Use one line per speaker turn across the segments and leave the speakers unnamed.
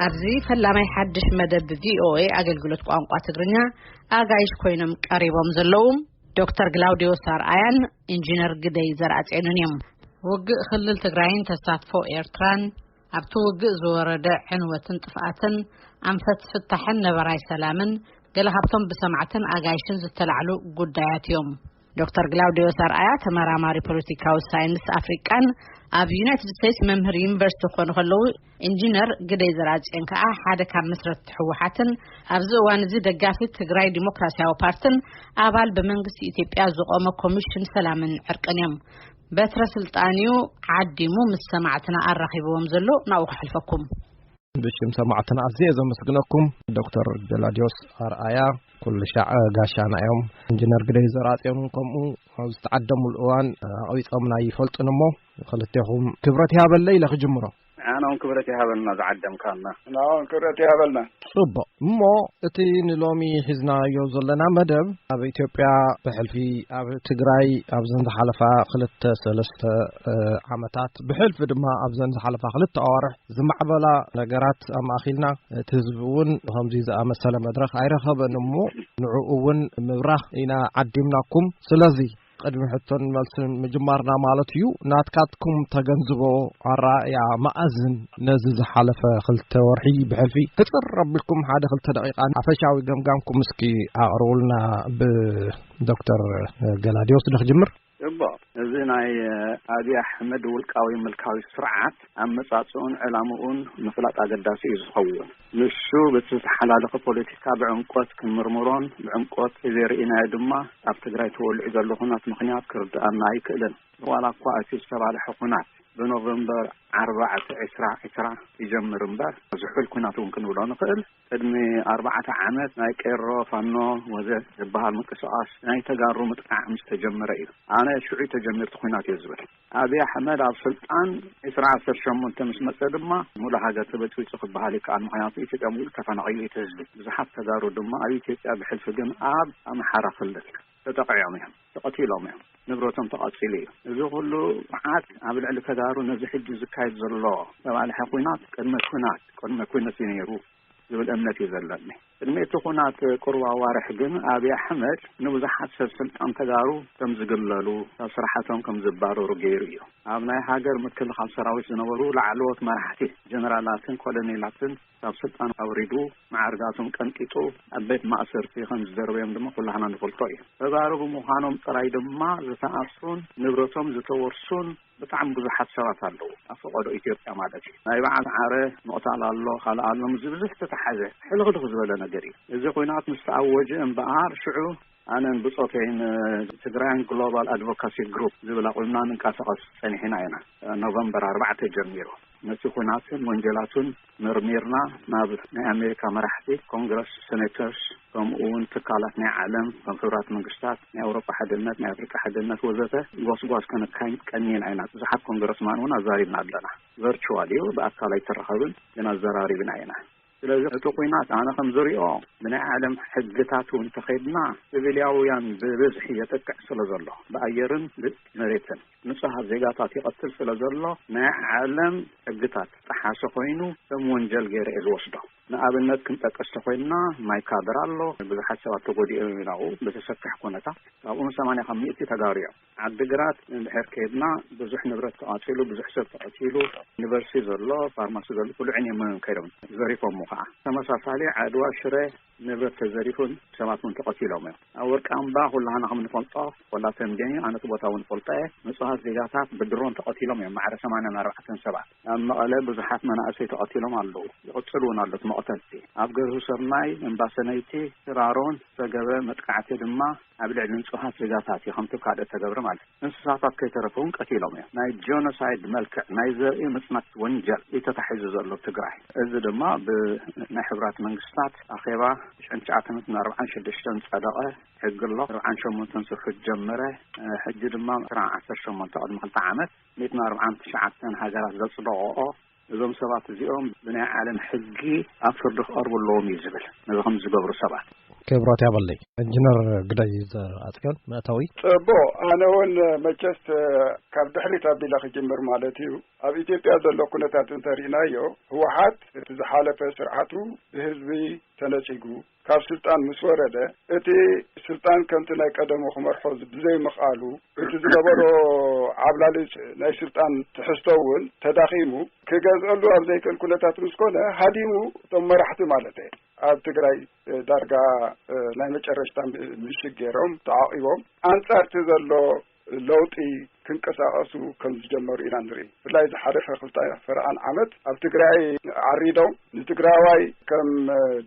ኣብዚ ፈላማይ ሓድሽ መደብ ቪኦኤ ኣገልግሎት ቋንቋ ትግርኛ ኣጋይሽ ኮይኖም ቀሪቦም ዘለዉ ዶክተር ግላውድዮ ሳርኣያን ኢንጂነር ግደይ ዘርኣጼኑን እዮም ውግእ ክልል ትግራይን ተሳትፎ ኤርትራን ኣብቲ ውግእ ዝወረደ ዕንወትን ጥፍኣትን፣ ኣንፈት ፍታሕን ነበራይ ሰላምን ገለ ካብቶም ብሰማዕትን ኣጋይሽን ዝተላዕሉ ጉዳያት እዮም። ዶክተር ግላውዴዎስ ኣርኣያ ተመራማሪ ፖለቲካዊ ሳይንስ ኣፍሪቃን ኣብ ዩናይትድ ስቴትስ መምህር ዩኒቨርሲቲ ክኾኑ ከለዉ ኢንጂነር ግደይ ዘርኣጽዮን ከዓ ሓደ ካብ መስረትቲ ህወሓትን ኣብዚ እዋን እዚ ደጋፊ ትግራይ ዲሞክራሲያዊ ፓርትን ኣባል ብመንግስቲ ኢትዮጵያ ዝቖመ ኮሚሽን ሰላምን ዕርቅን እዮም። በትረ ስልጣን እዩ ዓዲሙ ምስ ሰማዕትና ኣራኺብዎም ዘሎ ናብኡ ከሕልፈኩም። ብሽም
ሰማዕትና ኣዝየ ዘመስግነኩም ዶክተር ገላድዮስ ኣርኣያ ኩሉሻዕ ጋሻና እዮም ኢንጅነር ግደይ ዘርኣጽዮን ከምኡ ኣብ ዝተዓደምሉ እዋን ኣቕቢጾምና ይፈልጡን እሞ ክልቴኹም ክብረት ይሃበለይ ኢለ ክጅምሮ ንዓና ውን ክብረት
ይሃበልና ዝዓደምካና። ንዓና ውን ክብረት ይሃበልና። ጽቡቕ እሞ
እቲ ንሎሚ ሒዝናዮ ዘለና መደብ ኣብ ኢትዮጵያ ብሕልፊ ኣብ ትግራይ ኣብዘን ዝሓለፋ ክልተ ሰለስተ ዓመታት ብሕልፊ ድማ ኣብዘን ዝሓለፋ ክልተ ኣዋርሕ ዝማዕበላ ነገራት ኣማእኺልና እቲ ህዝቢ እውን ከምዚ ዝኣመሰለ መድረኽ ኣይረኸበን እሞ ንዕኡ እውን ምብራህ ኢና ዓዲምናኩም ስለዚ ቕድሚ ሕቶን መልስን ምጅማርና ማለት እዩ ናትካትኩም ተገንዝቦ ኣረኣእያ መኣዝን ነዚ ዝሓለፈ ክልተ ወርሒ ብሕልፊ ክፅር ኣቢልኩም ሓደ ክልተ ደቂቃ ሓፈሻዊ ገምጋምኩም እስኪ ኣቕርቡልና ብዶክተር ገላድዮስ ንክጅምር እቦ እዚ
ናይ ኣብዪ ኣሕመድ ውልቃዊ ምልካዊ ስርዓት ኣመፃፅኡን ዕላምኡን ምፍላጥ ኣገዳሲ እዩ ዝኸውን ንሱ በቲ ዝተሓላለኸ ፖለቲካ ብዕምቆት ክንምርምሮን ብዕምቆት ተዘይርኢናዮ ድማ ኣብ ትግራይ ተወሊዑ ዘሎ ኹናት ምኽንያት ክርድኣና ኣይክእልን። ዋላ እኳ እቲ ዝተባልሐ ኹናት ብኖቨምበር ዓርባዕተ ዕስራ ዕስራ ይጀምር እምበር ዝሑል ኹናት እውን ክንብሎ ንኽእል። ቅድሚ ኣርባዕተ ዓመት ናይ ቄሮ፣ ፋኖ ወዘ ዝበሃል ምንቅስቓስ ናይ ተጋሩ ምጥቃዕ ምስ ተጀመረ እዩ። ኣነ ሽዑ ተጀሚሩ እቲ ኹናት እየ ዝብል። ኣብይ ኣሕመድ ኣብ ስልጣን ዕስራ ዓሰርተ ሸሞንተ ምስ መፀ ድማ ሙሉእ ሃገር ተበፅቢፁ ክበሃል ይከኣል። ምኽንያቱ ኢትዮጵያ ሙሉእ ተፈናቒሉ እዩ እቲ ህዝቢ። ብዙሓት ተጋሩ ድማ ኣብ ኢትዮጵያ ብሕልፊ ግን ኣብ ኣምሓራ ክልል ተጠቒዖም እዮም፣ ተቐቲሎም እዮም፣ ንብረቶም ተቓፂሉ እዩ። እዚ ኩሉ መዓት ኣብ ልዕሊ ተጋሩ ነዚ ሕጂ ዝካየድ ዘሎ ዝተባልሐ ኹናት ቅድመ ኹናት ቅድመ ኩነት እዩ ነይሩ። ዝብል እምነት እዩ ዘለኒ። ቅድሚ እቲ ኹናት ቁሩብ ኣዋርሕ ግን ኣብይ ኣሕመድ ንብዙሓት ሰብ ስልጣን ተጋሩ ከም ዝግለሉ፣ ካብ ስራሓቶም ከም ዝባረሩ ገይሩ እዩ። ኣብ ናይ ሃገር ምክልኻል ሰራዊት ዝነበሩ ላዕለዎት መራሕቲ ጀነራላትን ኮለኔላትን ካብ ስልጣን ኣውሪዱ፣ መዓርጋቶም ቀንጢጡ ኣብ ቤት ማእሰርቲ ከም ዝደርበዮም ድማ ኩላህና ንፈልጦ እዩ። ተጋሩ ብምዃኖም ጥራይ ድማ ዝተኣስሩን ንብረቶም ዝተወርሱን፣ ብጣዕሚ ብዙሓት ሰባት ኣለዉ ኣብ ፈቐዶ ኢትዮጵያ ማለት እዩ ናይ በዓል ዓረ ምቕታል ኣሎ ካልእ ኣሎ ምስዚ ብዙሕ ዝተተሓዘ ሕልኽልኽ ዝበለ ነገር እዩ እዚ ኩናት ምስ ተኣወጀ እምበኣር ሽዑ ኣነን ብፆተይን ትግራይን ግሎባል ኣድቮካሲ ግሩፕ ዝብል ኣቑምና ንንቀሳቐስ ፀኒሕና ኢና ኖቨምበር ኣርባዕተ ጀሚሩ ነቲ ኩናትን ወንጀላቱን መርሚርና ናብ ናይ ኣሜሪካ መራሕቲ ኮንግረስ ሰኔተርስ ከምኡ እውን ትካላት ናይ ዓለም ከም ሕቡራት መንግስታት ናይ ኣውሮጳ ሓድነት ናይ ኣፍሪቃ ሓድነት ወዘተ ጓስጓስ ከነካይድ ቀኒና ኢና ብዙሓት ኮንግረስማን እውን ኣዛሪብና ኣለና ቨርቹዋል እዩ ብኣካል ኣይተራኸብን ግን ኣዘራሪብና ኢና ስለዚ እቲ ኩናት ኣነ ከም ዝሪኦ ብናይ ዓለም ሕግታት እውን ተኸድና ስቪልያውያን ብብዝሒ የጥቅዕ ስለ ዘሎ ብኣየርን ብመሬትን ንጹሃት ዜጋታት ይቐትል ስለ ዘሎ ናይ ዓለም ሕግታት ዝጠሓሰ ኮይኑ ከም ወንጀል ገይረ እየ ዝወስዶ። ንኣብነት ክንጠቅስ ተኾይንና ማይ ካድራ ኣሎ፣ ብዙሓት ሰባት ተጎዲኦም እዮም ኣብኡ ብዘሰክሕ ኩነታት። ካብኡ ን ሰማንያ ካብ ሚእቲ ተጋሩ እዮም። ዓዲ ግራት እንድሕር ከይድና ብዙሕ ንብረት ተቓጺሉ፣ ብዙሕ ሰብ ተቐቲሉ፣ ዩኒቨርሲቲ ዘሎ፣ ፋርማሲ ዘሎ ኩሉ ዕንየሞዮም ከይዶም ዘሪፎሞ ከኣ። ተመሳሳሊ ዓድዋ ሽረ ንብረት ተዘሪፉን ሰባት ውን ተቐቲሎም እዮም። ኣብ ወርቂ ኣምባ ኩላህና ከም ንፈልጦ ወላ ተምቤን እዩ፣ ኣነ እቲ ቦታ ውን እፈልጦ እየ፣ ንፁሃት ዜጋታት ብድሮን ተቐቲሎም እዮም፣ ማዕረ ሰማንያን ኣርባዕተን ሰባት። ኣብ መቐለ ብዙሓት መናእሰይ ተቐቲሎም ኣለዉ፣ ይቕፅል ውን ኣሎ እቲ መቕተልቲ። ኣብ ገርሁሰርናይ፣ እምባሰነይቲ፣ ሽራሮን ዝተገበ መጥቃዕቲ ድማ፣ ኣብ ልዕሊ ንጹሃት ዜጋታት እዩ ከምቶም ካልኦት ዝተገብረ ማለት እዩ። እንስሳታት ከይተረፈ ውን ቀቲሎም እዮም። ናይ ጆኖሳይድ መልክዕ ናይ ዘርኢ ምጽናት ወንጀል እዩ ተታሒዙ ዘሎ ኣብ ትግራይ። እዚ ድማ ብናይ ሕቡራት መንግስታት ኣኼባ ሽሕን ትሽዓተ ሚእትን ኣርብዓን ሽዱሽተን ዝጸደቐ ሕጊ ኣሎ። ኣርብዓን ሸሞንተን ስርሑ ጀመረ። ሕጂ ድማ ዕስራን ዓሰርተ ሸሞንተ ቅድሚ ክልተ ዓመት ሚእትን ኣርብዓን ትሽዓተን ሃገራት ዘጽደቐኦ እዞም ሰባት እዚኦም ብናይ ዓለም ሕጊ ኣብ ፍርዲ ክቐርቡ ኣለዎም እዩ ዝብል ነዚ ከምዚ ዝገብሩ ሰባት። ክብረት
ያበለይ እንጅነር ግደይ ዘርኣጽዮን መእተዊ። ጽቡቕ ኣነ
ውን መቸስ ካብ ድሕሪት ኣቢለ ክጅምር ማለት እዩ ኣብ ኢትዮጵያ ዘሎ ኩነታት እንተሪእናዮ ህወሓት እቲ ዝሓለፈ ስርዓቱ ብህዝቢ ተነጺጉ ካብ ስልጣን ምስ ወረደ እቲ ስልጣን ከምቲ ናይ ቀደሙ ክመርሖ ብዘይምኽኣሉ እቲ ዝነበሮ ዓብላሊ ናይ ስልጣን ትሕዝቶ እውን ተዳኺሙ ክገዝኣሉ ኣብ ዘይክእል ኩነታት ምስ ኮነ ሃዲሙ እቶም መራሕቲ ማለት እየ ኣብ ትግራይ ዳርጋ ናይ መጨረሽታ ምሽግ ገይሮም ተዓቂቦም ኣንጻርቲ ዘሎ ለውጢ ክንቀሳቐሱ ከም ዝጀመሩ ኢና ንርኢ። ብፍላይ ዝሓለፈ ክልተ ፈረቓን ዓመት ኣብ ትግራይ ዓሪዶም ንትግራዋይ ከም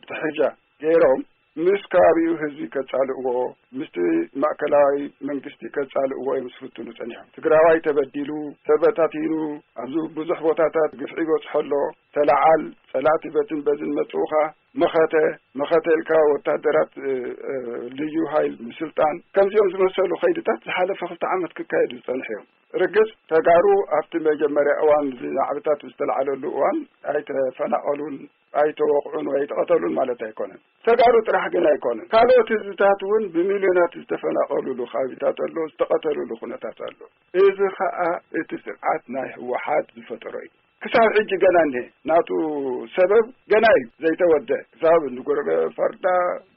ጥሕጃ ገይሮም ምስ ከባቢኡ ህዝቢ ከፃልእዎ ምስቲ ማእከላዊ መንግስቲ ከፃልእዎ እዮም ዝፍትኑ ፀኒሖም። ትግራዋይ ተበዲሉ ተበታቲኑ ኣብዚ ብዙሕ ቦታታት ግፍዒ ይበፅሖ ኣሎ ተለዓል ፀላእቲ በትን በዝን መፅኡኻ መኸተ መኸተ ኢልካ ወታደራት ልዩ ሃይል ምስልጣን ከምዚኦም ዝመሰሉ ከይድታት ዝሓለፈ ክልተ ዓመት ክካየዱ ዝፀንሐ እዮም ርግፅ ተጋሩ ኣብቲ መጀመርያ እዋን እዚ ናዕብታት ዝተላዓለሉ እዋን ኣይተፈናቐሉን ኣይተወቕዑን ወይ ኣይተቐተሉን ማለት ኣይኮነን ተጋሩ ጥራሕ ግን ኣይኮነን ካልኦት ህዝብታት እውን ብሚልዮናት ዝተፈናቐሉሉ ከባቢታት ኣሎ ዝተቐተሉሉ ኩነታት ኣሎ እዚ ከዓ እቲ ስርዓት ናይ ህወሓት ዝፈጠሮ እዩ ክሳብ ሕጂ ገና እኒሀ ናቱ ሰበብ ገና እዩ ዘይተወደእ ክሳብ ንጉርበ ፈርዳ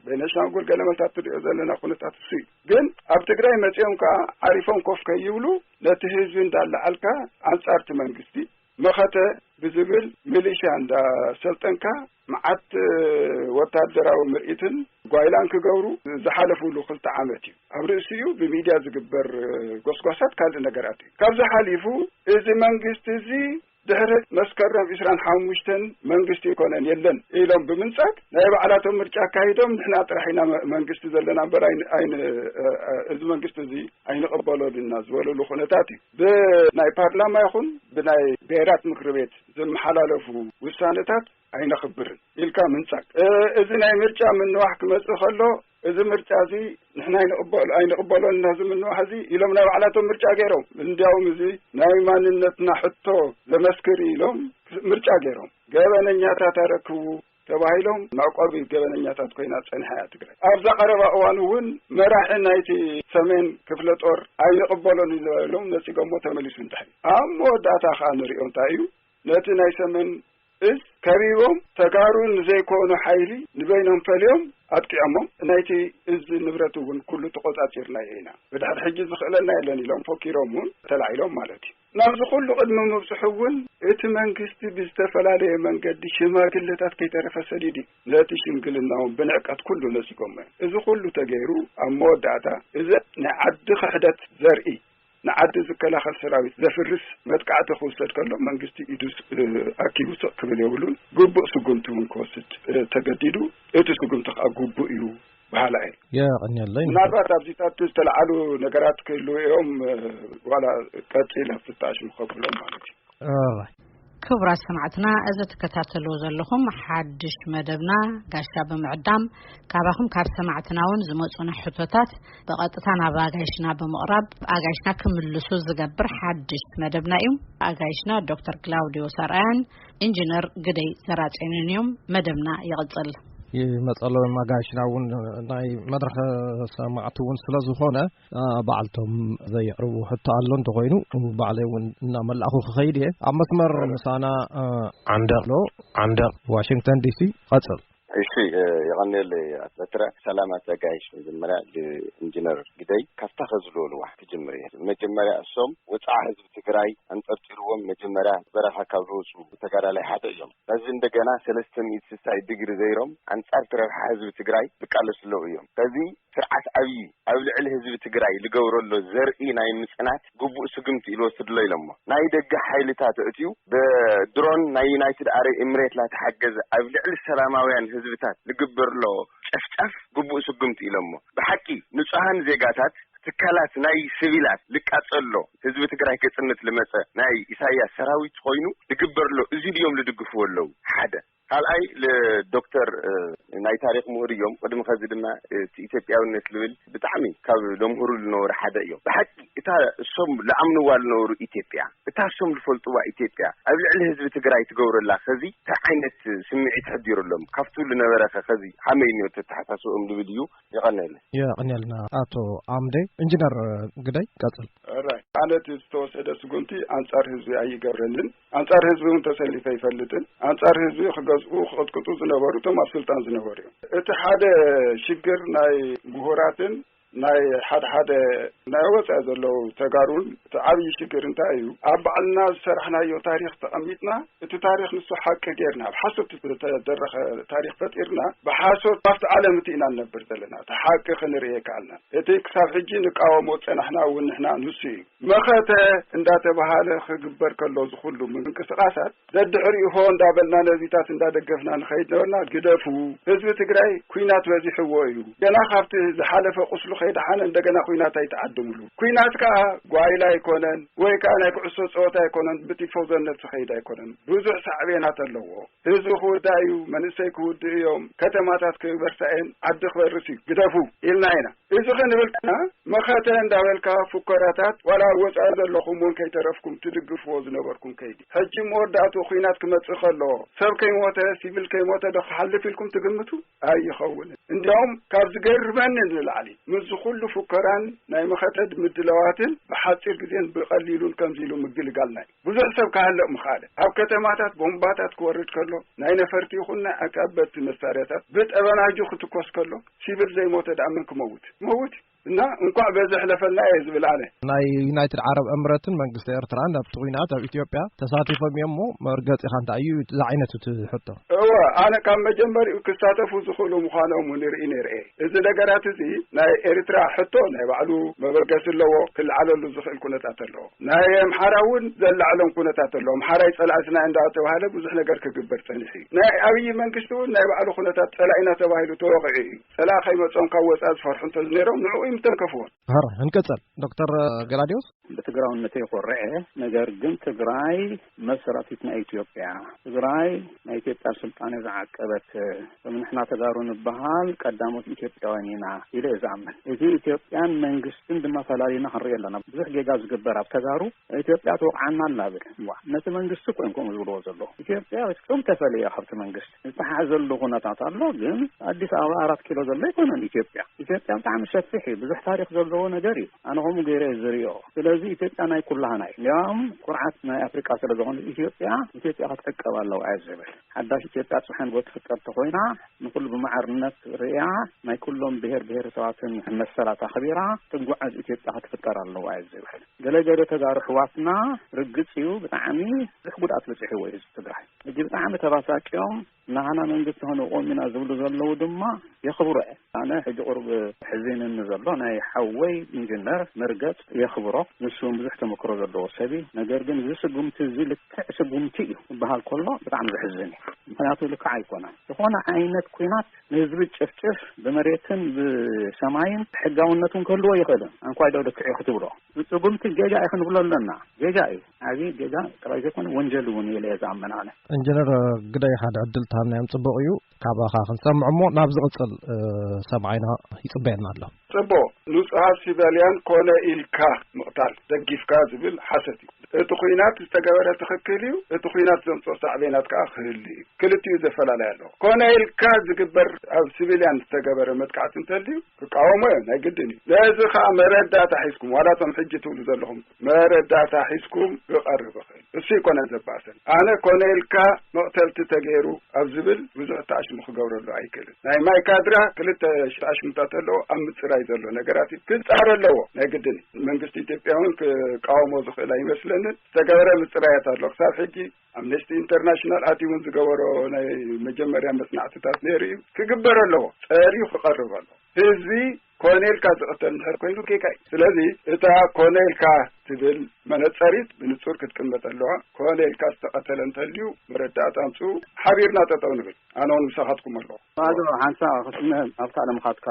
ቤነሻንጉል ገለ መታት ትሪኦ ዘለና ኩነታት እሱ እዩ ግን ኣብ ትግራይ መፂኦም ከዓ ዓሪፎም ኮፍ ከይብሉ ነቲ ህዝቢ እንዳላዓልካ ኣንፃርቲ መንግስቲ መኸተ ብዝብል ሚሊሽያ እንዳሰልጠንካ መዓት ወታደራዊ ምርኢትን ጓይላን ክገብሩ ዝሓለፍሉ ክልተ ዓመት እዩ። ኣብ ርእሲ እዩ ብሚድያ ዝግበር ጎስጓሳት ካልእ ነገራት እዩ። ካብዚ ሓሊፉ እዚ መንግስቲ እዚ ድሕሪ መስከረም ዕስራን ሓሙሽተን መንግስቲ ይኮነን የለን ኢሎም ብምንጻግ ናይ ባዕላቶም ምርጫ ኣካይዶም ንሕና ጥራሕ ኢና መንግስቲ ዘለና እበር እዚ መንግስቲ እዚ ኣይንቐበሎን ኢና ዝበለሉ ኩነታት እዩ። ብናይ ፓርላማ ይኹን ብናይ ብሄራት ምክሪ ቤት ዝመሓላለፉ ውሳነታት ኣይነኽብርን ኢልካ ምንጻግ እዚ ናይ ምርጫ ምንዋሕ ክመጽእ ከሎ እዚ ምርጫ እዚ ንሕና ይንቕበሉ ኣይንቕበሎን ናዚ ምንዋሕ እዚ ኢሎም ናይ ባዕላቶም ምርጫ ገይሮም እንዲያውም እዚ ናይ ማንነትና ሕቶ ዘመስክር ኢሎም ምርጫ ገይሮም ገበነኛታት ኣረክቡ ተባሂሎም መዕቆቢ ገበነኛታት ኮይና ፀኒሓ እያ ትግራይ። ኣብዛ ቀረባ እዋን እውን መራሒ ናይቲ ሰሜን ክፍለ ጦር ኣይንቕበሎን እዩ ዝበሎም ነፂጎሞ ተመሊሱ እንድሕሪ ኣብ መወዳእታ ከዓ ንሪኦ እንታይ እዩ ነቲ ናይ ሰሜን እዝ ከቢቦም ተጋሩ ንዘይኮኑ ሓይሊ ንበይኖም ፈልዮም ኣጥቂዖሞም ናይቲ እዝ ንብረት እውን ኩሉ ተቆፃፂርናዮ ኢና ብድሕሪ ሕጂ ዝኽእለና የለን ኢሎም ፎኪሮም እውን ተላዒሎም ማለት እዩ ናብዚ ኩሉ ቅድሚ ምብጽሑ እውን እቲ መንግስቲ ብዝተፈላለየ መንገዲ ሽማግለታት ከይተረፈ ሰዲዱ እዩ። ነቲ ሽምግልና እውን ብንዕቀት ኩሉ ነጺጎሞ እዮም። እዚ ኩሉ ተገይሩ ኣብ መወዳእታ እዚ ንዓዲ ክሕደት ዘርኢ ንዓዲ ዝከላኸል ሰራዊት ዘፍርስ መጥቃዕቲ ክውሰድ ከሎ መንግስቲ ኢዱ ኣኪቡ ስቕ ክብል የብሉን። ግቡእ ስጉምቲ እውን ክወስድ ተገዲዱ። እቲ ስጉምቲ ከኣ ግቡእ እዩ። በሃላይ እየ። የቐንየለይ መምህር።
ምናልባት ኣብዚታት
ዝተልዓሉ ነገራት ክህልዉ እዮም ዋላ ቀጺለ ፍታሽ ንኸብሎም ማለት እዩ። ኦራይት። ክቡራት
ሰማዕትና እዚ ትከታተልዎ ዘለኹም ሓድሽ መደብና ጋሻ ብምዕዳም ካባኹም ካብ ሰማዕትና ውን ዝመጹና ሕቶታት ብቐጥታ ናብ ኣጋይሽና ብምቕራብ ኣጋይሽና ክምልሱ ዝገብር ሓድሽ መደብና እዩ። ኣጋይሽና ዶክተር ግላውድዮስ ኣርኣያን ኢንጅነር ግደይ ሰራጨንን እዮም። መደብና ይቕፅል። ይመፀሎ
ማጋሽና እውን ናይ መድረኸ ሰማዕቲ እውን ስለ ዝኾነ ባዕልቶም ዘየቕርቡ ሕቶ ኣሎ እንተኮይኑ ባዕለይ እውን እናመላእኹ ክኸይድ እየ ኣብ መስመር ምሳና ዓንደቕ ዶ ዓንደቕ ዋሽንግተን ዲሲ ቐፅል እሺ
የቀንየለይ ኣቶ በትረ። ሰላም ኣቶ ጋይሽ መጀመርያ ኢንጅነር ግደይ ካብታ ከዚ ዝበልዋ ክጅምር እየ መጀመርያ እሶም ወፅዓ ህዝቢ ትግራይ ኣንጠርጢርዎም መጀመርያ በረኻ ካብ ዝወፁ ተጋዳላይ ሓደ እዮም ሕዚ እንደገና ሰለስተ ሚእቲ ስሳይ ድግሪ ዘይሮም ኣንፃርቲ ረብሓ ህዝቢ ትግራይ ዝቃለሱ ኣለዉ እዮም ሕዚ ስርዓት ኣብዪ ኣብ ልዕሊ ህዝቢ ትግራይ ልገብረሎ ዘርኢ ናይ ምፅናት ግቡእ ስጉምቲ እዩ ልወስድሎ ኢሎሞ። ናይ ደገ ሓይልታት ኣእትዩ ብድሮን ናይ ዩናይትድ ኣረይ እምሬት ላተሓገዘ ኣብ ልዕሊ ሰላማውያን ህዝብታት ልግበርሎ ጨፍጫፍ ግቡእ ስጉምቲ እዩ ኢሎሞ። ብሓቂ ንፁሃን ዜጋታት ትካላት ናይ ስቪላት ልቃፀልሎ ህዝቢ ትግራይ ከፅንት ልመፀ ናይ ኢሳያስ ሰራዊት ኾይኑ ልግበርሎ እዙይ ድዮም ልድግፍዎ ለዉ? ሓደ። ካልኣይ ዶክተር ናይ ታሪኽ ምሁር እዮም ቅድሚ ከዚ ድማ እቲ ኢትዮጵያውነት ልብል ብጣዕሚ ካብ ለምህሩ ልነበሩ ሓደ እዮም ብሓቂ እታ እሶም ልኣምንዋ ልነበሩ ኢትዮጵያ እታ እሶም ልፈልጥዋ ኢትዮጵያ ኣብ ልዕሊ ህዝቢ ትግራይ ትገብረላ ከዚ ታይ ዓይነት ስምዒት ሕዲሩሎም ካብቱ ልነበረኸ ከዚ ሃመይ እኒኦ ተተሓሳስብኦም ልብል እዩ የቐነለ የቐንየልና
ኣቶ ኣምደ እንጅነር ግደይ ቀፅል ኣነ እቲ
ዝተወሰደ ስጉምቲ ኣንፃር ህዝቢ ኣይገብረንን ኣንጻር ህዝቢ እውን ተሰሊፈ ኣይፈልጥን። ኣንጻር ህዝቢ ክገዝኡ ክቕጥቅጡ ዝነበሩ እቶም ኣብ ስልጣን ዝነበሩ እዮም። እቲ ሓደ ሽግር ናይ ምሁራትን ናይ ሓደ ሓደ ናይ ወፃኢ ዘለዉ ተጋሩን እቲ ዓብዪ ሽግር እንታይ እዩ ኣብ ባዕልና ዝሰራሕናዮ ታሪክ ተቐሚጥና እቲ ታሪክ ንሱ ሓቂ ጌርና ብ ሓሶት ዝተደረኸ ታሪክ ፈጢርና ብሓሶት ካብቲ ዓለም እቲ ኢና ንነብር ዘለና እቲ ሓቂ ክንርእየ ከኣልና እቲ ክሳብ ሕጂ ንቃወሞ ፀናሕና እውን ንሕና ንሱ እዩ መኸተ እንዳተበሃለ ክግበር ከሎ ዝኹሉ ምንቅስቓሳት ደድሕሪኡ ሆ እንዳበልና ነዚታት እንዳደገፍና ንኸይድ ነበርና። ግደፉ ህዝቢ ትግራይ ኩናት በዚሕዎ እዩ ገና ካብቲ ዝሓለፈ ቁስሉ ከይደሓነ እንደገና ኩናት ኣይትዓድምሉ። ኩናት ከኣ ጓይላ ኣይኮነን ወይ ከኣ ናይ ኩዕሶ ፀወታ ኣይኮነን ብቲፎዞነት ዝኸይድ ኣይኮነን ብዙሕ ሳዕቤናት ኣለዎ። ህዝቢ ክውዳእ እዩ፣ መንእሰይ ክውድኡ እዮም፣ ከተማታት ክበርሳ እየን፣ ዓዲ ክበርስ እዩ ግደፉ ኢልና ኢና። እዚ ክንብል ከኣ መኸተ እንዳበልካ ፉከራታት ዋላ ኣብ ወጻኢ ዘለኹም ውን ከይተረፍኩም ትድግፍዎ ዝነበርኩም ከይዲ ሕጂ መወዳእትኡ ኹናት ክመጽእ ከሎ ሰብ ከይሞተ ሲቪል ከይሞተ ዶ ክሓልፍ ኢልኩም ትግምቱ ኣይኸውንን እንዲያውም ካብ ዝገርመኒ ንላዕሊ ምስዚ ኩሉ ፉከራን ናይ መኸተ ምድላዋትን ብሓጺር ግዜን ብቀሊሉን ከምዚ ኢሉ ምግልጋል ናይ ብዙሕ ሰብ ክሃልቕ ምኸኣለ። ኣብ ከተማታት ቦምባታት ክወርድ ከሎ፣ ናይ ነፈርቲ ይኹን ናይ ኣጻበብቲ መሳርያታት ብጠበናጁ ክትኮስ ከሎ፣ ሲቪል ዘይሞተ ድኣ መን ክመውት ክመውት እዩ። እና እንኳዕ በዚ ኣሕለፈና እየ ዝብል ኣነ። ናይ ዩናይትድ
ዓረብ እምረትን መንግስቲ ኤርትራን ኣብቲ ኹናት ኣብ ኢትዮጵያ ተሳቲፎም እዮም እሞ መርገጺኻ እንታይ እዩ እዩ ዝዓይነቱ እቲ ሕቶ። እወ ኣነ ካብ
መጀመሪኡ ክሳተፉ ዝኽእሉ ምዃኖም ውን ይርኢ ነይረ እየ። እዚ ነገራት እዚ ናይ ኤርትራ ሕቶ ናይ ባዕሉ መበገሲ ኣለዎ ክልዓለሉ ዝኽእል ኩነታት ኣሎ። ናይ ኣምሓራ እውን ዘላዕሎም ኩነታት ኣሎ። ኣምሓራይ ፀላእትና እንዳተብሃለ ብዙሕ ነገር ክግበር ፀኒሑ እዩ። ናይ ኣብይ መንግስቲ እውን ናይ ባዕሉ ኩነታት ፀላኢና ተባሂሉ ተወቂዑ እዩ። ፀላኢ ከይመፆም ካብ ወፃኢ ዝፈርሑ እንተዝነይሮም ንዕኡ እዩ ምተንከፍዎም። ሐራይ ንቀፀል
ዶክተር ገላዲዮስ። ብትግራውነተይ
ኮርዐ ነገር ግን ትግራይ። መሰራቲት ናይ ኢትዮጵያ ትግራይ ናይ ኢትዮጵያ ስልጣኔ ዝዓቀበት ከም ንሕና ተጋሩ ንበሃል ቀዳሞት ኢትዮጵያውያን ኢና ኢለ እየ ዝኣምን። እቲ ኢትዮጵያን መንግስትን ድማ ፈላሊና ክንሪኦ ኣለና። ብዙሕ ጌጋ ዝግበር ኣብ ተጋሩ ኢትዮጵያ ትወቕዓና ኣላ ብል ነቲ መንግስቲ ኮንኩም ዝብልዎ ዘሎ ኢትዮጵያ ከም ተፈለየ ካብቲ መንግስቲ ዝተሓዘሉ ኩነታት ኣሎ ግን ኣዲስ ኣበባ ኣራት ኪሎ ዘሎ ኣይኮነን ኢትዮጵያ ኢትዮጵያ ብጣዕሚ ሰፊሕ እዩ ብዙሕ ታሪክ ዘለዎ ነገር እዩ ኣነ ከምኡ ገይረ እዩ ዝሪኦ ስለዚ ኢትዮጵያ ናይ ኩላህና እዩ እንዲያውም ኩርዓት ናይ ኣፍሪቃ ስለ ዝኾነ ኢትዮጵያ ኢትዮጵያ ክትዕቀብ ኣለዋ እየ ዝብል ሓዳሽ ኢትዮጵያ ፅሓን ጎ ትፍጠር ተኮይና ንኩሉ ብማዕርነት ርእያ ናይ ኩሎም ብሄር ብሄረሰባትን መሰላት ኣኽቢራ ትጓዓዝ ኢትዮጵያ ክትፍጠር ኣለዋ እየ ዝብል ገለ ገለ ተጋሩ ኣሕዋትና ርግፅ እዩ ብጣዕሚ ብዙሕ ጉድኣት በፂሕዎ እዩ ህዝቢ ትግራይ ሕጂ ብጣዕሚ ተባሳቂዮም ናሃና መንግስቲ ከነቆም ኢና ዝብሉ ዘለዉ ድማ የኽብሮ እየ ኣነ ሕጂ ቁርብ ሕዚንኒ ዘሎ ናይ ሓወይ ኢንጅነር መርገፅ የኽብሮ ንሱ እውን ብዙሕ ተመክሮ ዘለዎ ሰብ እዩ ነገር ግን እዚ ስጉምቲ እዚ ልክዕ ስጉምቲ እዩ ዝበሃል ከሎ ብጣዕሚ ዘሕዝን እዩ ምክንያቱ ልክዕ ኣይኮነን ዝኾነ ዓይነት ኩናት ንህዝቢ ጭፍጭፍ ብመሬትን ብሰማይን ሕጋውነት ውን ክህልዎ ኣይኽእልን። ኣንኳይ ዶ ልክዕ እዩ ክትብሎ ብስጉምቲ ጌጋ እዩ ክንብሎ ኣለና። ጌጋ እዩ ዓብዪ ጌጋ ጥራይ ዘይኮነ ወንጀል ውን እዩ ኢለ እየ ዝኣምን ኣነ። ኢንጅነር
ግደይ ሓደ ዕድል ተሃብናዮም ጽቡቕ እዩ። ካባኻ ክንሰምዕ እሞ ናብ ዝቕጽል ሰብዓይና ይጽበየና ኣሎ። ጽቡቕ ንጹሃት
ሲቨልያን ኮነ ኢልካ ምቕታል ደጊፍካ ዝብል ሓሰት እዩ። እቲ ኹናት ዝተገበረ ትኽክል እዩ፣ እቲ ኹናት ዘምጽኦ ሳዕቤናት ከኣ ክህሉ እዩ። ክልቲኡ ዘፈላላይ ኣለዎ። ኮነ ኢልካ ዝግበር ኣብ ሲቪልያን ዝተገበረ መጥቃዕቲ እንተልዩ ክቃወሞ እየ ናይ ግድን እዩ። ነዚ ከኣ መረዳእታ ሒዝኩም ዋላ እቶም ሕጂ ትብሉ ዘለኹም መረዳእታ ሒዝኩም ክቐርብኽን እሱ ኣይኮነን ዘባእሰን ኣነ ኮነ ኢልካ መቕተልቲ ተገይሩ ኣብ ዝብል ብዙሕ ተኣሽሙ ክገብረሉ ኣይክእልን ናይ ማይ ካድራ ክልተ ተኣሽሙታት ኣለዎ ኣብ ምፅራይ ዘሎ ነገራት እዩ ክፃረ ኣለዎ ናይ ግድን እዩ መንግስቲ ኢትዮጵያ እውን ክቃወሞ ዝኽእል ኣይመስለንን ዝተገበረ ምፅራያት ኣሎ ክሳብ ሕጂ ኣምነስቲ ኢንተርናሽናል ኣትዩ እውን ዝገበሮ ናይ መጀመርያ መፅናዕትታት ነይሩ እዩ ክግበር ኣለዎ ፀርዩ ክቐርብ ኣለዎ ህዝቢ ኮነ ኢልካ ዝቕተል እንድሕር ኮይኑ ኬካ እዩ። ስለዚ እታ ኮነ ኢልካ ትብል መነጸሪት ብንጹር ክትቅመጥ ኣለዋ። ኮነ ኢልካ ዝተቐተለ እንተልዩ መረዳእታ ኣምጽኡ፣ ሓቢርና ጠጠው ንብል። ኣነ ውን ምሳኻትኩም ኣለኹ። ባዶ ሓንሳእ
ክትስምዕ ኣብ ካልእ ምኻድካ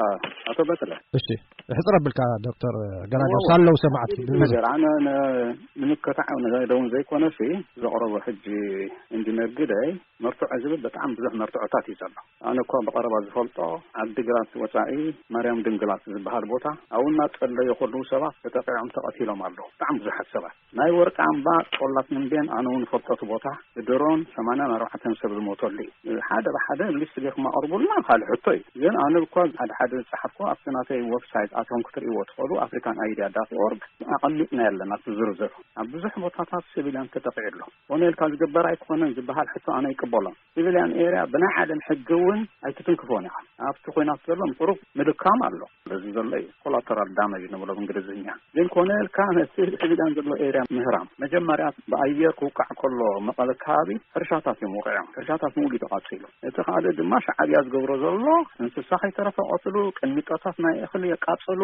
ኣቶ በትረ። እሺ ሕጽር
ኣብልካ ዶክተር ገላጋብ ሳለው ሰማዕቲ ብብዝሕ። ነገር ኣነ
ንምከታዕ ደውን ዘይኮነሲ ዘቕረቦ ሕጂ ኢንጂነር ግደይ መርትዖ ዝብል በጣዕሚ ብዙሕ መርትዖታት እዩ ዘሎ። ኣነ እኳ ብቐረባ ዝፈልጦ ዓዲግራት ወፃኢ ማርያም ድንግላት ዝበሃል ቦታ ኣብኡ እናፀለዩ ከለዉ ሰባት ተጠቒዖም ተቐቲሎም ኣለዉ ብጣዕሚ ብዙሓት ሰባት። ናይ ወርቂ ኣምባ ጦላ ተምቤን ኣነ እውን እፈልጦ እቲ ቦታ ብድሮን ሰማንያን ኣርባዕተን ሰብ ዝሞተሉ እዩ። ሓደ ብሓደ ሊስት ገይርኩም ኣቕርቡልና ካልእ ሕቶ እዩ። ግን ኣነ እኳ ሓደ ሓደ ዝፀሓፍኩ ኣብቲ ናተይ ወብሳይት ኣትኹም ክትርእይዎ ትኽእሉ ኣፍሪካን ኣይዲያ ዳት ኦርግ ኣቐሚጥናዮ ኣለና እቲ ዝርዝር ኣብ ብዙሕ ቦታታት ሲቪልያን ተጠቒዑ ኣሎ። ኮነ ኢልካ ዝግበር ኣይኮነን ዝበሃል ሕቶ ኣነ ኣይቅበሎን። ሲቪልያን ኤርያ ብናይ ዓለም ሕጊ እውን ኣይትትንክፎን ኢኻ። ኣብቲ ኹናት ዘሎ ንቁሩብ ምድካም ኣሎ። እዚ ዘሎ እዩ ኮላተራል ዳመጅ ንብሎ ብእንግሊዝኛ። ግን ኮነ ኢልካ ነቲ ሲቪልያን ዘሎ ኤርያ ምህራም። መጀመርያ ብኣየር ክውቃዕ ከሎ መቐለ ከባቢ ሕርሻታት እዮም ወቒዖም። ሕርሻታት ምሉእ እዩ ተቓፂሉ። እቲ ካልእ ድማ ሻዕብያ ዝገብሮ ዘሎ እንስሳ ከይተረፈ ይቐትሉ፣ ቅሚጦታት ናይ እኽሊ የቃፅሉ፣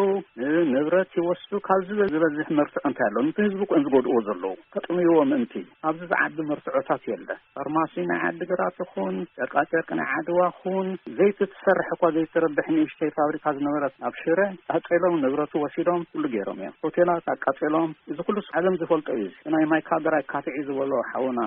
ንብረት ይወስዱ። ካብዚ ዝበዝሕ መርትዖ እንታይ ኣሎ? ነቲ ህዝቢ እኮ እዮም ዝጎድእዎ ዘለዉ። ከጥምይዎ ምእንቲ። ኣብዚ ዝዓቢ መርትዖታት የለን። ፋርማሲ ናይ ዓዲግራት ይኹን ጨርቃጨርቂ ናይ ዓድዋ ይኹን ዘይቲ ትሰርሕ እኳ ዘይትረብሕ ንእሽተይ ፋብሪካ ዝነበረት ኣብ ሽረ ቃፀሎም ንብረቱ ወሲዶም ኩሉ ገይሮም እዮም። ሆቴላት ኣቃፂሎም እዚ ኩሉስ ዓለም ዝፈልጦ እዩ። እዚ ናይ ማይካድራይ ካትዒ ዝበሎ ሓውና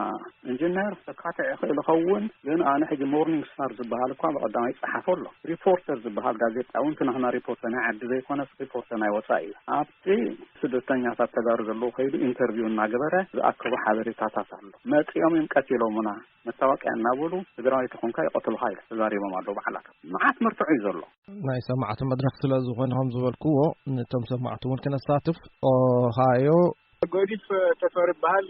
እንጅነር ከካትዕ ይኽእል ይኸውን ግን ኣነ ሕጂ ሞርኒንግ ስታር ዝበሃል እኳ ብቐዳማይ ይፀሓፎ ኣሎ። ሪፖርተር ዝበሃል ጋዜጣ እውን እቲ ናህና ሪፖርተር ናይ ዓዲ ዘይኮነስ ሪፖርተር ናይ ወፃኢ እዩ። እቲ ስደተኛታት ተጋሩ ዘለዉ ከይዱ ኢንተርቪው እናገበረ ዝኣከቦ ሓበሬታታት ኣሎ። መፂኦም እዮም ቀቲሎሙና፣ መታወቂያ እናበሉ ትግራዋይ ተኾንካ ይቐትሉኻ ኢሉ ተዛሪቦም ኣለዉ ባዕላቶም። መዓት መርትዖ እዩ ዘሎ። ናይ ሰማዕቲ መድረኽ
ስለ ዝኾነ ከም ዝበልክዎ ንቶም ሰማዕቲ እውን ክነሳትፍ ኦሃዮ። ጎዲፍ
ተፈሪ ይበሃል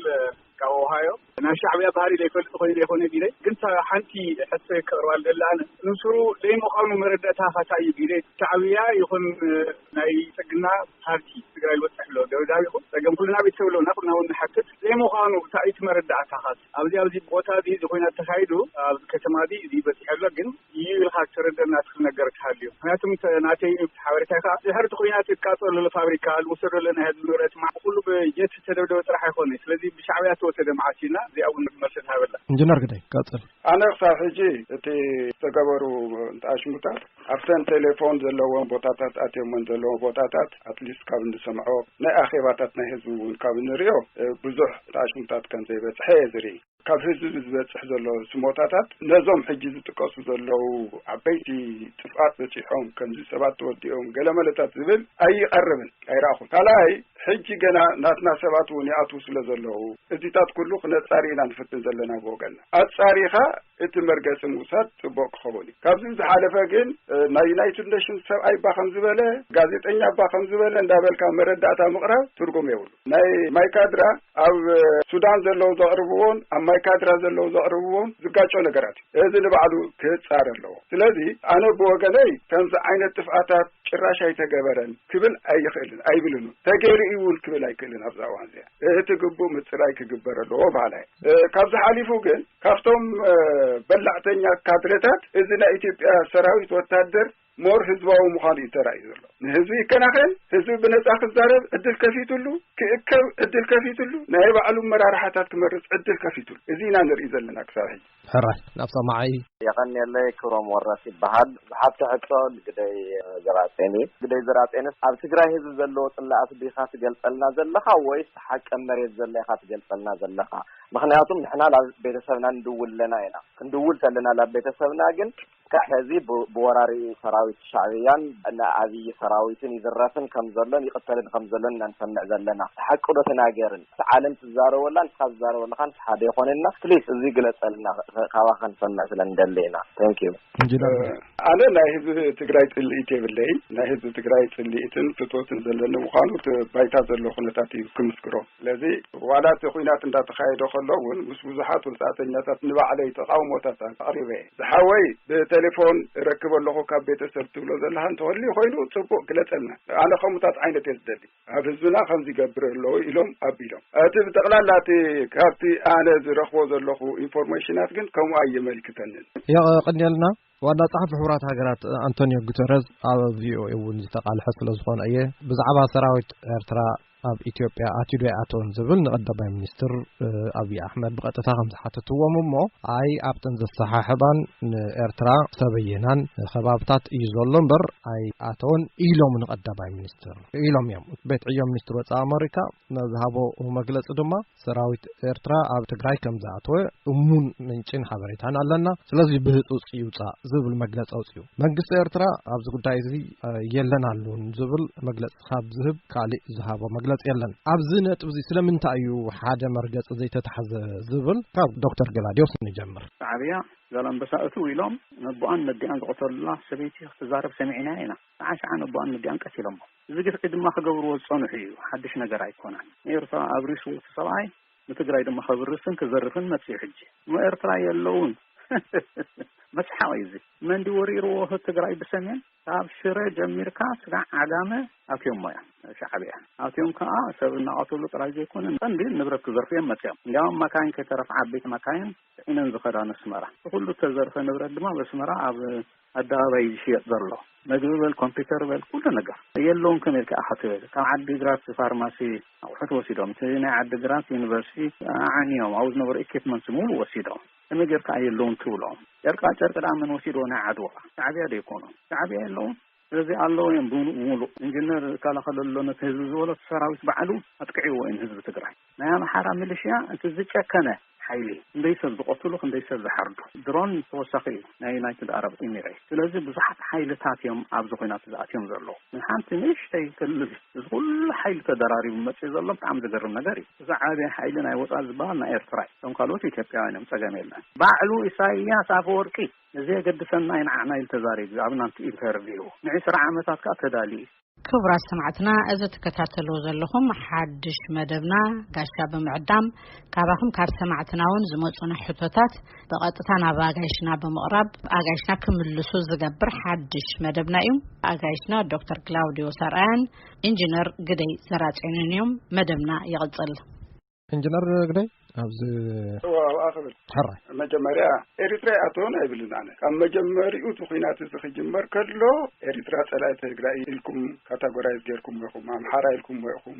ካብ ኦሃዮ። ናይ ሻዕብያ ባህሪ ዘይፈልጥ ኮይነ ይኮነ ቢለ ግን ሓንቲ ሕቶ ከቅርባ ዝደሊ ኣነ ንሱሩ ዘይምዃኑ መረዳእታ ካታ እዩ ቢለ ሻዕብያ ይኹን ናይ ፅግና ፓርቲ ትግራይ ዝበፅሕ ኣሎ ደብዳቢኹ ፀገም ኩልና ቤተሰብ ኣለውና ኩልና እውን ንሓትት ዘይምዃኑ እታይ እዩ እቲ መረዳእታ ካት ኣብዚ ኣብዚ ቦታ እዚ ኮይናት ተካይዱ ኣብዚ ከተማ እዚ እዚ በፂሑ ኣሎ ግን እዩ ኢልካ እተረድእ ናትክ ነገር ክሃልዩ ምክንያቱ ናተይ እዩ ሓበሬታይ ከኣ ድሕር እቲ ኩናት እትቃጸሎ ዘሎ ፋብሪካ ልውሰደሎ ናይ ህዝቢ ንብረት ማዕ ብኩሉ ብጀት እተደብደበ ጥራሕ ኣይኮነይ ስለዚ ብሻዕብያ እተወሰደ መዓስ እዩ እና እዚኣ ውን መልሲ ትሃበላ። እንጅነር ግደይ ቀጽል።
ኣነ ክሳብ ሕጂ
እቲ ዝተገበሩ ኣሽሙታት ኣብተን ቴሌፎን ዘለወን ቦታታት ኣትዮመን ዘለዎ ቦታታት ኣትሊስት ካብ እንሰምዖ ናይ ኣኼባታት ናይ ህዝቢ እውን ካብ እንሪኦ ብዙሕ ኣሽሙታት ከምዘይበጽሐ እየ ዝርኢ። ካብ ህዝቢ ዝበፅሕ ዘሎ ስሞታታት ነዞም ሕጂ ዝጥቀሱ ዘለዉ ዓበይቲ ጥፍኣት በፂሖም ከምዚ ሰባት ተወዲኦም ገለ መለታት ዝብል ኣይቐርብን ኣይረኣኹን ካልኣይ ሕጂ ገና ናትና ሰባት እውን ይኣትዉ ስለ ዘለዉ እዚታት ኩሉ ክነፃሪ ኢና ንፍትን ዘለና ብወገና ኣፃሪኻ እቲ መርገፂ ምውሳድ ፅቡቅ ክኸውን እዩ ካብዚ ዝሓለፈ ግን ናይ ዩናይትድ ኔሽንስ ሰብኣይ ባ ከም ዝበለ ጋዜጠኛ ባ ከም ዝበለ እንዳበልካ መረዳእታ ምቕራብ ትርጉም የብሉ ናይ ማይካድራ ኣብ ሱዳን ዘለዉ ዘቕርብዎን ኣብ ማይካድራ ዘለዉ ዘቕርብዎን ዝጋጮ ነገራት እዩ። እዚ ንባዕሉ ክጻረ ኣለዎ። ስለዚ ኣነ ብወገነይ ከምዚ ዓይነት ጥፍኣታት ጭራሽ ኣይተገበረን ክብል ኣይኽእልን ኣይብልን ውን። ተገይሩ እዩ ውን ክብል ኣይክእልን ኣብዛ እዋን እዚኣ። እቲ ግቡእ ምጽራይ ክግበር ኣለዎ በሃላይ እየ። ካብዚ ሓሊፉ ግን ካብቶም በላዕተኛ ካድረታት እዚ ናይ ኢትዮጵያ ሰራዊት ወታደር more ህዝባዊ ምዃኑ እዩ ተራእዩ ዘሎ። ንህዝቢ ይከናኸን፣ ህዝቢ ብነጻ ክዛረብ ዕድል ከፊትሉ፣ ክእከብ ዕድል ከፊትሉ፣ ናይ ባዕሉ ኣመራርሓታት ክመርጽ ዕድል ከፊትሉ። እዚ ኢና ንርኢ ዘለና ክሳብ ሕጂ። ሕራይ ናብ ሰማዒ!
የቐንየለይ
ክብሮም ወረስ ይበሃል ዝሓብተ ሕቶ ንግደይ ዘርኣጼን እዩ ግደይ ዘርኣጼንስ ኣብ ትግራይ ህዝቢ ዘለዎ ጽላኣት ዲኻ ትገልጸልና ዘለኻ ወይስ ትሓቂ ኣብ መሬት ዘሎ ኢኻ ትገልጸልና ዘለኻ ምኽንያቱም ንሕና ላብ ቤተሰብና ንድውል ኣለና ኢና ክንድውል ተለና ላብ ቤተሰብና ግን እስካዕ ሐዚ ብወራሪ ሰራዊት ሻዕብያን ኣብይ ሰራዊትን ይዝረፍን ከምዘሎን ይቅተልን ከምዘሎን ኢና ንሰምዕ ዘለና ሐቂ ዶ ተናገርን እቲ ዓለም ትዛረበላ ንስካ ትዛረበላካንስ ሐደ ይኮነና ፕሊስ እዚ ግለፀልና ካባካ ክንሰምዕ ስለ ንደሊ ኢና Thank you። ኣነ
ናይ ህዝቢ ትግራይ ፅልኢት የብለይን ናይ ህዝቢ ትግራይ ፅልኢትን ፍትወትን ዘለኒ ምኳኑ እቲ ባይታ ዘሎ ኩነታት እዩ ክምስክሮ። ስለዚ ዋላ እቲ ኹናት እንዳተኻየደ ከሎ እውን ምስ ብዙሓት ወጻእተኛታት ንባዕለይ ተቓውሞታት ኣቕሪበ እየ። ዝሓወይ ብተሌፎን እረክብ ኣለኹ ካብ ቤተሰብ ትብሎ ዘለኻ እንተህልዩ ኮይኑ ጽቡቕ ግለጸልና። ኣነ ከምኡታት ዓይነት እየ ዝደሊ። ኣብ ህዝብና ከምዚ ይገብር ኣሎ ኢሎም ኣቢሎም። እቲ ብጠቕላላ እቲ ካብቲ ኣነ ዝረኽቦ ዘለኹ ኢንፎርሜሽናት ግን ከምኡ ኣየመልክተንን። የቐንየልና።
ዋና ጸሓፊ ሕቡራት ሃገራት ኣንቶኒዮ ጉተረዝ ኣብ ቪኦኤ እውን ዝተቓልሐ ስለ ዝኾነ እየ ብዛዕባ ሰራዊት ኤርትራ ኣብ ኢትዮጵያ ኣትዶ ይኣተውን ዝብል ንቐዳማይ ሚኒስትር ኣብዪ ኣሕመድ ብቐጥታ ከም ዝሓተትዎም እሞ ኣይ ኣብተን ዘሰሓሕባን ንኤርትራ ሰበየናን ከባብታት እዩ ዘሎ እምበር ኣይ ኣተውን ኢሎም ንቐዳማይ ሚኒስትር ኢሎም እዮም ቤት ዕዮ ሚኒስትር ወፃኢ ኣመሪካ ዝሃቦ መግለፂ ድማ ሰራዊት ኤርትራ ኣብ ትግራይ ከም ዝኣተወ እሙን ምንጪን ሓበሬታን ኣለና ስለዚ ብህፁፅ ይውፃእ ዝብል መግለፂ ኣውፅኡ መንግስቲ ኤርትራ ኣብዚ ጉዳይ እዚ የለን ኣሉን ዝብል መግለፂ ካብ ዝህብ ካሊእ ዝሃቦ መግለፂ የለን ኣብዚ ነጥብ እዚ ስለምንታይ እዩ ሓደ መርገፂ ዘይተታሕዘ ዝብል ካብ ዶክተር ገላዲዮስ ንጀምር ሻዕብያ
ዛላምበሳ እትው ኢሎም ነቦኣን ነዲኣን ዝቐተሉላ ሰበይቲ ክትዛረብ ሰሚዕናያ ኢና። ሰዓን ሰዓን ነቦኣን ነዲኣን ቀቲሎሞ። እዚ ግፍዒ ድማ ክገብርዎ ዝፀንሑ እዩ፣ ሓዱሽ ነገር ኣይኮነን። ንኤርትራ ኣብሪስዎ እቲ ሰብኣይ ንትግራይ ድማ ከብርስን ክዘርፍን መፂኡ ሕጂ እሞ ኤርትራ የለውን መስሓቕ እዩ እዚ። መን ድዩ ወሪርዎ ትግራይ ብሰሜን ካብ ሽረ ጀሚርካ ስጋዕ ዓጋመ ኣትዮሞ እዮም ሻዕብያ ኣትዮም ከዓ ሰብ እናቐትሉ ጥራይ ዘይኮነ ቀንዲ ንብረት ክዘርፉ እዮም መፅኦም እንዲያውም መካይን ከይተረፍ ዓበይቲ መካይን ፅዒነን ዝኸዳ ነስመራ እቲ ኩሉ ተዘርፈ ንብረት ድማ በስመራ ኣብ ኣደባባይ እዩ ዝሽየጥ ዘሎ መግቢ በል ኮምፒተር በል ኩሉ ነገር የለውን ከመይ ኢልካ ኢኻ ትብል ካብ ዓዲ ግራት ፋርማሲ ኣቑሑት ወሲዶም እቲ ናይ ዓዲ ግራት ዩኒቨርሲቲ ኣዓንዮም ኣብኡ ዝነበሩ ኢኪፕመንት ሙሉእ ወሲዶም ከመይ ጌርካ የለውን ትብሎም ጨርቃ ጨርቂ ድኣ መን ወሲድዎ ናይ ዓድዋ ሻዕብያ ዶ ይኮኑ ሻዕብያ የለውን ስለዚ ኣለዎ እዮም ብምሉእ ኢንጂነር ይከላኸለሎ ነቲ ህዝቢ ዝበሎ ሰራዊት ባዕሉ ኣጥቅዕዎ እዮም ህዝቢ ትግራይ ናይ ኣምሓራ ሚሊሽያ እቲ ዝጨከነ ሓይሊ እዩ። ክንደይ ሰብ ዝቐትሉ ክንደይ ሰብ ዝሓርዱ። ድሮን ተወሳኺ እዩ ናይ ዩናይትድ ኣረብ ኢሚሬት። ስለዚ ብዙሓት ሓይልታት እዮም ኣብዚ ኹናት ዝኣትዮም ዘለዉ። ን ሓንቲ ንእሽተይ ክልል እዚ ኹሉ ሓይሊ ተደራሪቡ መፂኡ ዘሎ ብጣዕሚ ዝገርም ነገር እዩ። እዚ ዓብይ ሓይሊ ናይ ወፃኢ ዝበሃል ናይ ኤርትራ እዩ። እቶም ካልኦት ኢትዮጵያውያን እዮም ፀገም የለን። ባዕሉ ኢሳይያስ ኣፈወርቂ ንዘየገድሰና ኢንዓዕና ኢሉ ተዛሪቡ እዩ ኣብ ናቱ ኢንተርቪው። ን ዕስራ ዓመታት ከዓ ተዳልዩ እዩ። ክቡራት ሰማዕትና
እዚ ትከታተልዎ ዘለኹም ሓድሽ መደብና ጋሻ ብምዕዳም ካባኹም ካብ ሰማዕትና እውን ዝመፁና ሕቶታት ብቐጥታ ናብ ኣጋይሽና ብምቕራብ ኣጋይሽና ክምልሱ ዝገብር ሓድሽ መደብና እዩ ኣጋይሽና ዶክተር ግላውዲዮ ሰርኣያን ኢንጂነር ግደይ ዘራፅዮንን እዮም መደብና ይቕፅል እንጅነር
ግደይ ኣብዚ ዋውኣ ክብል
ሕራይ
መጀመርያ
ኤሪትራ ኣተውን ኣይብልን ኣነ ካብ መጀመሪኡ እቲ ኩናት እዚ ክጅመር ከሎ ኤሪትራ ጸላኢ ትግራይ ኢልኩም ካታጎራይዝ ጌርኩም ኢኹም ኣምሓራ ኢልኩም ኢኹም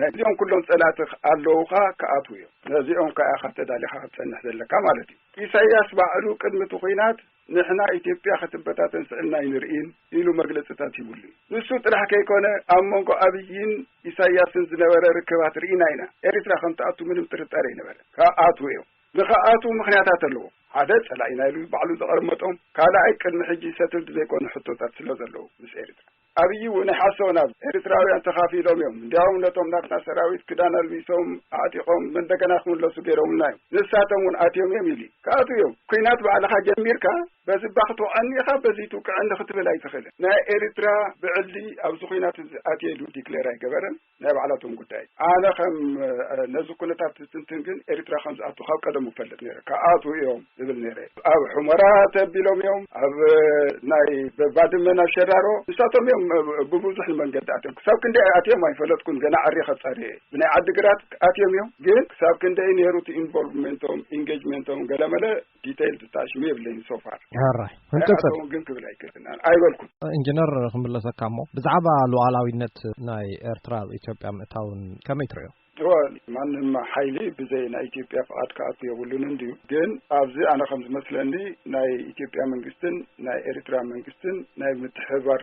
ነዚኦም ኩሎም ጸላእቲ ኣለውኻ ክኣትው እዮም ነዚኦም ከኣ ኢኻ ተዳሊኻ ክትጸንሕ ዘለካ ማለት እዩ ኢሳያስ ባዕሉ ቅድሚ እቲ ኩናት ንሕና ኢትዮጵያ ክትበታተን ስዒብና ኣይንርእይን ኢሉ መግለፅታት ሂቡሉ እዩ። ንሱ ጥራሕ ከይኮነ ኣብ መንጎ ኣብይን ኢሳያስን ዝነበረ ርክባት ርኢና ኢና። ኤሪትራ ከምትኣቱ ምንም ጥርጣረ ኣይነበረን። ክኣትዉ እዮም። ንክኣትዉ ምክንያታት ኣለዎም። ሓደ ፀላኢና ኢሉ ባዕሉ ዘቐርመጦም፣ ካልኣይ ቅድሚ ሕጂ ሰትልድ ዘይኮኑ ሕቶታት ስለዘለዉ ምስ ኤሪትራ። ኣብይ ውን ኣይሓሰወን ኣብ ኤሪትራውያን ተኻፊሎም እዮም እንዲያውም ነቶም ናትና ሰራዊት ክዳን ኣልቢሶም ኣዕጢቆም መንደገና ክምለሱ ገይሮምልና እዮም ንሳቶም ውን ኣትዮም እዮም ኢሊ ክኣትው እዮም ኩናት ባዕልኻ ጀሚርካ በዝባ ክትወዐኒ ኢኻ በዝይ ትውቅዐኒ ክትብል ኣይትኽእልን ናይ ኤሪትራ ብዕሊ ኣብዚ ኩናት እዚ ኣትየ ኢሉ ዲክሌር ኣይገበረን ናይ ባዕላቶም ጉዳይ ኣነ ከም ነዚ ኩነታት ዝትንትን ግን ኤርትራ ከም ዝኣቱ ካብ ቀደሙ እፈልጥ ነይረ ክኣትዉ እዮም ዝብል ነይረ ኣብ ሑመራ ተቢሎም እዮም ኣብ ናይ ባድመ ናብ ሸራሮ ንሳቶም እዮም ብብዙሕ ንመንገዲ ኣትዮም ክሳብ ክንደይ ኣትዮም ኣይፈለጥኩን ገና ዓሪኸ ጸርየ ብናይ ዓዲ ግራት ኣትዮም እዮም ግን ክሳብ ክንደይ ነይሩ እቲ ኢንቮልቭመንቶም ኢንጌጅመንቶም ገለመለ ዲተይል ትታሽሙ የብለይን ሶፋር ሕራይ ንቅፅል
ግን ክብል ኣይክእልን
ኣይበልኩም ኢንጂነር
ክምለሰካ እሞ ብዛዕባ ሉዓላዊነት ናይ ኤርትራ ኣብ ኢትዮጵያ ምእታውን ከመይ ትሪኦ ማንም
ሓይሊ ብዘይ ናይ ኢትዮጵያ ፍቓድ ክኣቱ የብሉን እንድዩ ግን ኣብዚ ኣነ ከም ዝመስለኒ ናይ ኢትዮጵያ መንግስትን ናይ ኤርትራ መንግስትን ናይ ምትሕባር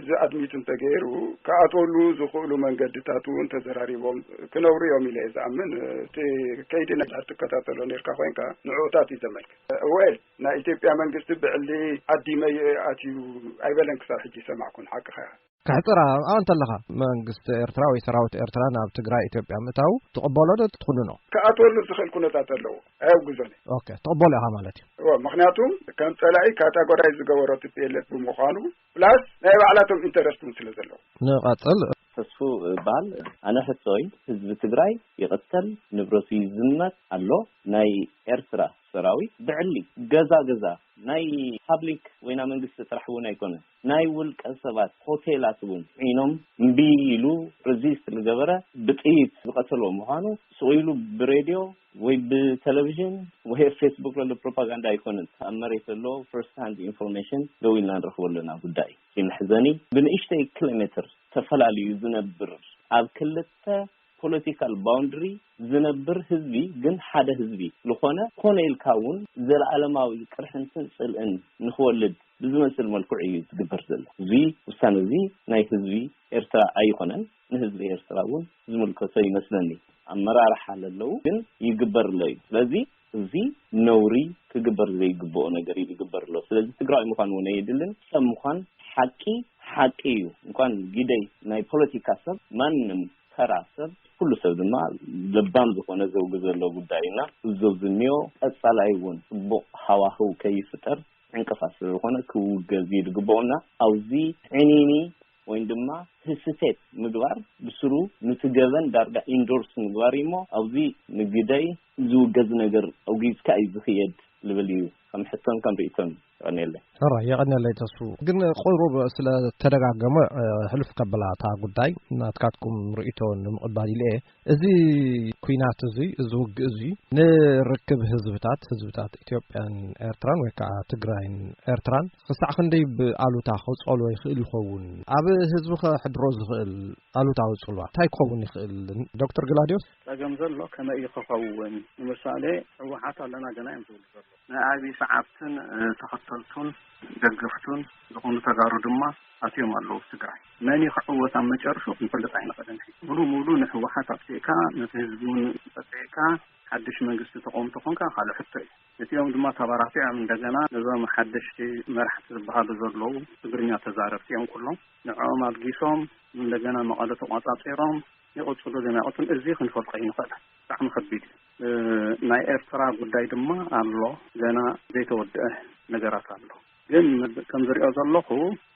እዚ ኣድሚት እንተገይሩ ክኣትወሉ ዝኽእሉ መንገድታት እውን ተዘራሪቦም ክነብሩ እዮም ኢለ እየ ዝኣምን እቲ ከይዲ ትከታተሎ ነርካ ኮይንካ ንዕኡታት እዩ ዘመልክ ወል ናይ ኢትዮጵያ መንግስቲ ብዕሊ ዓዲመ ኣትዩ ኣይበለን ክሳብ ሕጂ ይሰማዕኩን ሓቅኻ እያ ከሕፅር ኣብኣ
እንተለኻ መንግስቲ ኤርትራ ወይ ሰራዊት ኤርትራ ናብ ትግራይ ኢትዮጵያ ምእታው ትቕበሎ ዶ ትኹንኖ ክኣትወሉ ዝኽእል
ኩነታት ኣለዎ ኣየውግዞን እየ ትቕበሎ ኢኻ
ማለት እዩ ምክንያቱም
ከም ፀላኢ ካታጎራይ ዝገበሮ ትፔለት ብምዃኑ ፕላስ ናይ ባዕላቶም ኢንተረስት ውን ስለ ዘለዎም። ንቐጽል።
ተስፉ
እባል ኣነ ሕቶይ ህዝቢ ትግራይ ይቕተል ንብረቱ ይዝመት ኣሎ ናይ ኤርትራ ሰራዊት ብዕሊ ገዛ ገዛ ናይ ፓብሊክ ወይ ናይ መንግስቲ ጥራሕ እውን ኣይኮነን ናይ ውልቀ ሰባት ሆቴላት እውን ዒኖም እምቢ ኢሉ ርዚስት ልገበረ ብጥይት ዝቐተሎ ምዃኑ ሱቕ ኢሉ ብሬድዮ ወይ ብተለቭዥን ወይ ኣብ ፌስቡክ ዘሎ ፕሮፓጋንዳ ኣይኮነን ኣብ መሬት ዘሎ ፈርስት ሃንድ ኢንፎርሜሽን ደው ኢልና ንረኽቦ ኣለና ጉዳይ እዩ። እቲ መሕዘኒ ብንእሽተይ ክለሜትር ተፈላልዩ ዝነብር ኣብ ክልተ ፖለቲካል ባውንድሪ ዝነብር ህዝቢ ግን ሓደ ህዝቢ ልኾነ ኮነ ኢልካ እውን ዘለኣለማዊ ቅርሕንትን ጽልእን ንክወልድ ብዝመስል መልክዑ እዩ ዝግበር ዘሎ። እዚ ውሳነ እዚ ናይ ህዝቢ ኤርትራ ኣይኾነን። ንህዝቢ ኤርትራ እውን ዝምልከቶ ይመስለኒ ኣመራርሓ ለለው ግን ይግበር ኣሎ እዩ ስለዚ እዚ ነውሪ ክግበር ዘይግበኦ ነገር እዩ ዝግበር ዘሎ ስለዚ ትግራዋይ ምዃን እውን ኣየድልን ሰብ ምዃን ሓቂ ሓቂ እዩ እንኳን ግደይ ናይ ፖለቲካ ሰብ ማንም ተራ ሰብ ኩሉ ሰብ ድማ ለባም ዝኾነ ዘውግ ዘሎ ጉዳይ እዩ እና እዞ ዝኒኦ ቀፃላይ እውን ፅቡቕ ሃዋህው ከይፍጠር ዕንቅፋት ስለ ዝኾነ ክውገዝ እዩ ዝግበኦ እና ኣብዚ ዕንይንይ ወይም ድማ ህስቴት ምግባር ብስሩ ኑቲ ገበን ዳርጋ ኢንዶርስ ምግባር እዩሞ ኣብዚ ንግደይ ዝውገዝ ነገር ኣውጊዝካ እዩ ዝክየድ ልብል እዩ ከም ሕቶን ከም ሪኢቶን የቀንየለይ። ሕራይ የቐንየለይ
ተስፉ ግን ቁሩብ ስለ ተደጋገመ ሕልፍ ከብላ እታ ጉዳይ ናትካትኩም ርእይቶ ንምቕባል ኢለ እየ። እዚ ኩናት እዚ እዚ ውግእ እዚ ንርክብ ህዝብታት ህዝብታት ኢትዮጵያን ኤርትራን ወይ ከዓ ትግራይን ኤርትራን ክሳዕ ክንደይ ብኣሉታ ክፀልዎ ይኽእል ይኸውን? ኣብ ህዝቢ ከሕድሮ ዝኽእል ኣሉታዊ ፅልዋ እንታይ ክኸውን ይኽእል? ዶክተር ግላድዮስ። ፀገም ዘሎ ከመይ
እዩ ክኸውን? ንምሳሌ ህወሓት ኣለና ገና እዮም ዝብሉ ዘለዉ። ናይ ኣብይ ሰዓብትን ተኸተልቱን ደገፍቱን ዝኾኑ ተጋሩ ድማ ኣትዮም ኣለዉ ኣብ ትግራይ። መን እዩ ክዕወት ኣብ መጨርሹ ክንፈልጥ ኣይንኽእልን ሕጂ። ሙሉእ ሙሉእ ንህወሓት ኣጥፊእካ ነቲ ህዝቢ እውን ጸቂዕካ ሓድሽ መንግስቲ ተቆውም ተኾንካ ካልእ ሕቶ እዩ። እቲኦም ድማ ተባራቲዖም እንደገና ነዞም ሓደሽቲ መራሕቲ ዝበሃሉ ዘለዉ ትግርኛ ተዛረብቲ እዮም ኩሎም። ንዕኦም ኣልጊሶም እንደገና መቐለ ተቖጻጺሮም ይቕጽሉ ድዮም ኣይቕጽሉን እዚ ክንፈልጦ ኣይንኽእልን። ብጣዕሚ ከቢድ እዩ። ናይ ኤርትራ ጉዳይ ድማ ኣሎ ገና ዘይተወድአ ነገራት ኣሎ ግን ከም ዝሪኦ ዘለኹ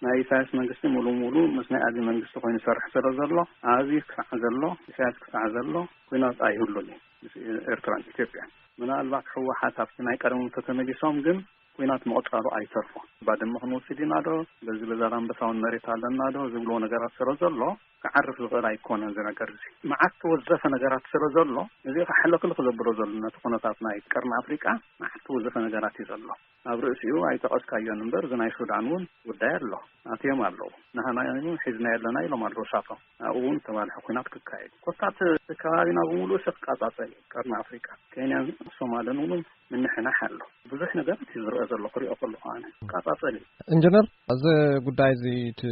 ናይ ኢሳያስ መንግስቲ ሙሉ ሙሉ ምስ ናይ ኣዚ መንግስቲ ኮይኑ ዝሰርሕ ስለ ዘሎ ኣዚ ክሳዕ ዘሎ ኢሳያስ ክሳዕ ዘሎ ኩናት ኣይህሉን እዩ ምስ ኤርትራን ኢትዮጵያን ምናልባት ሕወሓት ኣብቲ ናይ ቀደሞም ተተመሊሶም ግን ኲናት ምቕጻሉ ኣይተርፎ ባድመ ክንወስድ ኢና ዶ በዚ በዛላምበሳውን መሬት ኣለና ዶ ዝብልዎ ነገራት ስለ ዘሎ ክዓርፍ ዝኽእል ኣይኮነን እዚ ነገር እዚ መዓት ተወዘፈ ነገራት ስለ ዘሎ እዚ ሕልኽልኽ ዘብሎ ዘሎ ነቲ ኩነታት ናይ ቀርኒ ኣፍሪቃ መዓት ተወዘፈ ነገራት እዩ ዘሎ ኣብ ርእሲኡ ኣይጠቐስካዮን እምበር እዚ ናይ ሱዳን እውን ጉዳይ ኣሎ ኣትዮም ኣለዉ ንሃና ሒዝናዮ ኣለና ኢሎም ኣለዉ እሳቶም ኣብኡ እውን ዝተባልሐ ኩናት ክካየድ እዩ። ኮታስ እቲ ከባቢና ብምሉእ ሰብ ክቃጻጸል እዩ። ቀርኒ ኣፍሪቃ፣ ኬንያን ሶማልን እውን ምንሕናሕ ኣሎ። ብዙሕ ነገራት እዩ ዝርኣ ዘሎ ክሪኦ ከለኹ ኣነ። ክቃጻጸል እዩ። እንጅነር
እዚ ጉዳይ እዚ እቲ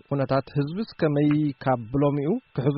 ኩነታት ህዝብስ ከመይ ካብ ብሎሚኡ ክሕዞ